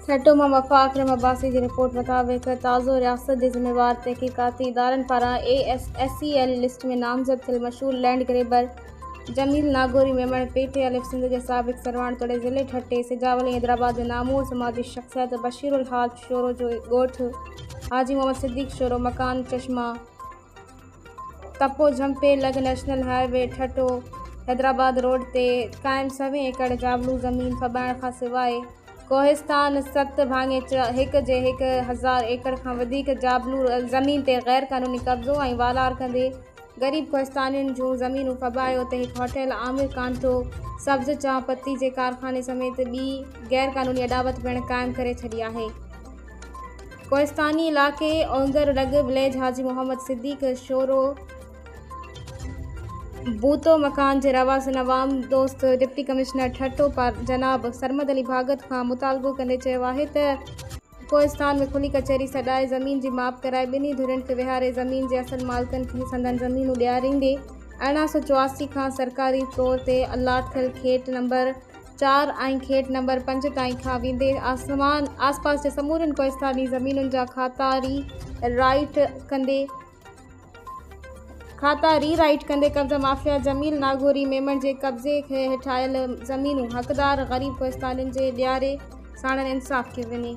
ٺٽو مان وفا اڪرم عباسي جي رپورٽ مطابق تازو رياست جي ذميوار تحقيقاتي ادارن پاران A S A L list ۾ نامزد ٿيل مشهور land grabber Jamil Nagori Memon P T الف سنڌ جي سابق سرواڻ توڙي ضلعي ٺٽي سجاول ۽ حيدرآباد جي نامور سماجي شخصيت بشيرالحاج شورو جو ڳوٺ حاجي محمد صديق شورو مڪان چشمه تپو جهمپي لڳ national highway Thatta Hyderabad road تي قائم سوين ايڪڙ جابلو زمين ڦٻائڻ کان سواء ڪوهستان ست ڀاڱي هڪ جي هڪ هزار ايڪڙ کان وڌيڪ جابلو زمين تي غير قانوني قبضو ۽ والار ڪندي غريب ڪوهستانين جون زمينون ڦٻائي اتي هڪ هوٽل عامر ڪانٽو سبز چانھ پتي جي ڪارخاني سميت ٻي غير قانوني اڏاوت پڻ قائم ڪري ڇڏي آهي. ڪوهستاني علائقي اونگر لڳ وليج حاجي محمد صديق شورو بوتو مڪان جي رهواسين عوام دوست ڊپٽي ڪمشنر ٺٽو جناب سرمد علي ڀاڳت کان مطالبو ڪندي چيو آهي ته ڪوهستان ۾ کلي ڪچهري سڏائي زمين جي ماپ ڪرائي ٻنهي ڌرين کي ويهاري زمين جي اصل مالڪن کي سندن زمينون ڏياريندي ارڙهن سؤ چواسي کان سرڪاري طور تي الاٽ ٿيل کيٽ نمبر چار ۽ کيٽ نمبر پنج تائين کان ويندي آسمان آس پاس جي سمورين ڪوهستاني زمينن جا کاتا ري رائيٽ ڪندي کاتا ري رائيٽ ڪندي قبضه مافيا جميل ناگوري ميمڻ جي قبضي هيٺ آيل زمينون حقدار غريب ڪوهستانين جي ڏياري ساڻن انصاف ڪيو وڃي.